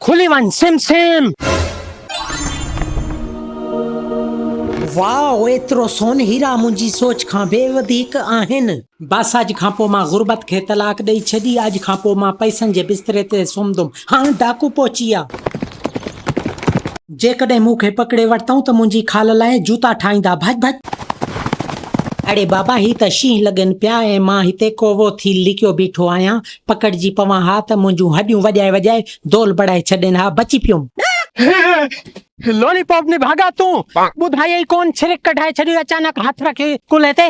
کلي وڃ سم سيم. واء ايترو سون هيرا منهنجي سوچ کان به وڌيڪ آهن. بس اڄ کان پوء مان غربت کي طلاق ڏئي ڇڏي اڄ کان پوء مان پئسن جي بستري تي سمهندم هان ڊاڪو پهچي ويا. جيڪڏهن مون کي پڪڙي ورتئون ته منهنجي خال لاء جوتا ٺاهيندا ڀڄ ڀڄ. اڙي بابا هي ته شينهن لڳن پيا ۽ مان هتي ڪوئو ٿي لڪيو بيٺو آهيان پڪڙجي پوان ها ته منهنجون هڏيون وڄائي وڄائي دول بڙائي ڇڏين ها، بچي پيوم. لالي پاپ نڀاڳا تون ٻڌائي ئي ڪون ڇرڪ ڪڍائي ڇڏيو اچانڪ هٿ رکي ڪلهي تي.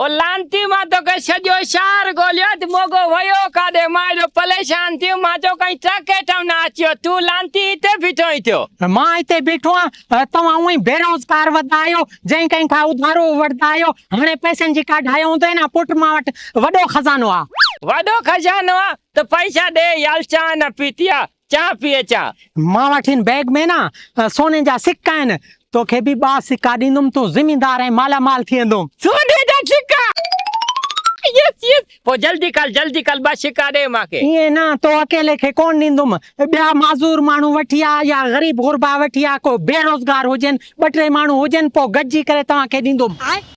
او لعنتي مان توکي سڄو شهر ڳوليو اٿ موڳو ويو ڪاڏي مان ايڏو پليشان ٿيم مان چيو ڪئين ٽرڪ هيٺئون نه اچيو تون لعنتي هتي بيٺو آهين ٿيو. مان هتي بيٺو آهيان توهان هونئن ئي بيروزگار وڌا آهيو، جنهن ڪنهن کان اڌارو ورتا آهيو، هاڻي پئسن جي ڪا ڍايو هوندئي نه، پٽ مان وٽ وڏو خزانو آ. وڏو خزانو آ ته پئسا ڏي يل چانهه نه پيتي آ، چانهه پي اچان. مان وٽ هن بيگ ۾ نه سوني جا سڪا آهن، توکي به ٻه سڪا ڏيندم، تون زميندار ۽ مالا مال ٿيندون. سوني جا سڪا! Yes yes! پوء جلدي ڪر، جلدي ڪر، ٻه سڪا ڏي مان کي. ائين نه، تو اڪيلي کي ڪونه ڏيندم. ٻيا معذور ماڻهو وٺي آ يا غريب غربا وٺي آ، ڪو بيروزگار هجن، ٻه ٽي ماڻهو هجن، پوء گڏجي ڪري توهان کي ڏيندم.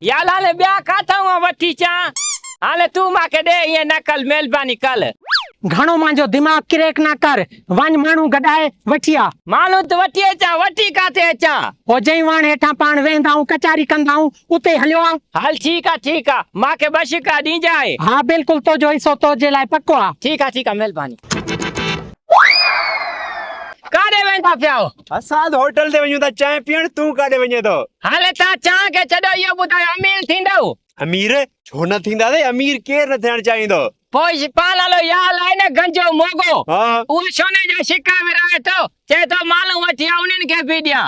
يار هاڻي ٻيا ڪاٿئون آئون وٺي اچان؟ هاڻي تون مان کي ڏي، ائين نه ڪر، مهرباني ڪر. گهڻو منهنجو دماغ ڪريڪ نه ڪر، وڃ ماڻهو گڏائي وٺي آ. ماڻهو ته وٺي اچان، وٺي ڪاٿي اچان؟ پوء جئين واڻ هيٺان پاڻ ويهندائون، ڪچهري ڪندائون، اتي هليو آء. هل ٺيڪ آ ٺيڪ آ. مان کي ٻه شڪا ڏينجانء. ها بلڪل تنهنجو حصو تنهنجي لاء پڪو آ. ٺيڪ آ ٺيڪ آ مهرباني. ڪاڏي ويندا پيا آهيو؟ اسان هوٽل تي وڃون ٿا چانهه پيئڻ تون ڪاڏي وڃين ٿو؟ هل تان چانهه کي ڇڏيو اهو ٻڌاء امير ٿيندؤ؟ امير؟ ڇو نه ٿينداسين امير ڪير نه ٿيڻ چاهيندو. پوء شپال هلو يا هل آهي نه گنجو موڳو اهو سوني جا شڪا ورهائي ٿو چئي ٿو مالون وٺي آء انهن کي به ڏيان.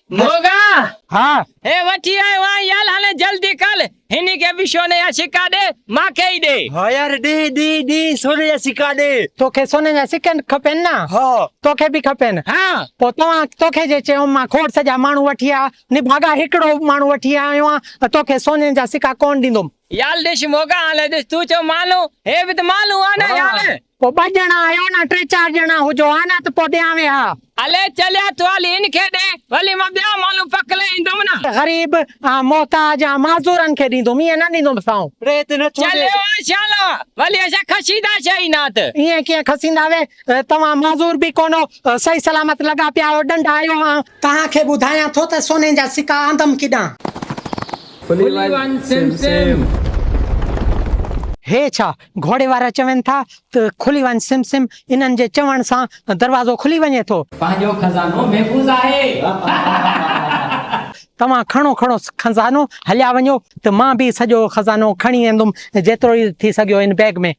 موڳا! ها! هي وٺي آيو آهيان يال هلي جلدي کل، هن کي به سوني جا سڪا ڏي، مان کي ئي ڏي. ها يار ڏي ڏي ڏي سوني جا سڪا ڏي. تو کي سوني جا سڪا کپين نه؟ ها. تو کي به کپين؟ ها. پوء توهان تو کي جي چيم مان کوڙ سڄا ماڻهو وٺي آيا نڀاڳا هڪڙو ماڻهو وٺي آيو آهيان ته تو کي سوني جا سڪا ڪونه ڏيندوم. يال ڏس موڳا هالي ڏس تون ڇو مالون هي به ته مالون آ نه يال. پو ٻه ڄڻا آهيو نه ٽي چار ڄڻا هجو ها نه ته پو ڏيان وي ها. هلي چليا تو هلي هن کي ڏي ولي مان ٻيا مالون پڪلي ايندوم نه. غريب آن محتاج آن معذورن کي ڏيندوم ايئن نه ڏيندوم سائون. چليو آ شالا ولي اسان کسيندا شي ئي نات. ايئن ڪيئن کسيندا وي توهان معذور به ڪونه سهي سلامت لڳا پيا آهيو ڏنڊ آهيو آن. توهان کي ٻڌايان ٿو ته سوني جا سڪا آندم ڪيڏانهن. کلي وڃ سيم سيم. هي ڇا گهوڙي وارا چون ٿا ته کلي وڃ سيم سيم انهن جي چوڻ سان دروازو کلي وڃي ٿو. پنهنجو خزانو محفوظ آهي. توهان کڻو کڻو خزانو هليا وڃو ته مان به سڄو خزانو کڻي ايندم جيترو ئي ٿي سگهيو ان بيگ ۾.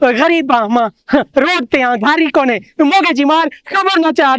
غريب آن مان روڊ تي آن گهاري ڪونهي موڳي جي مار خبر نه چار.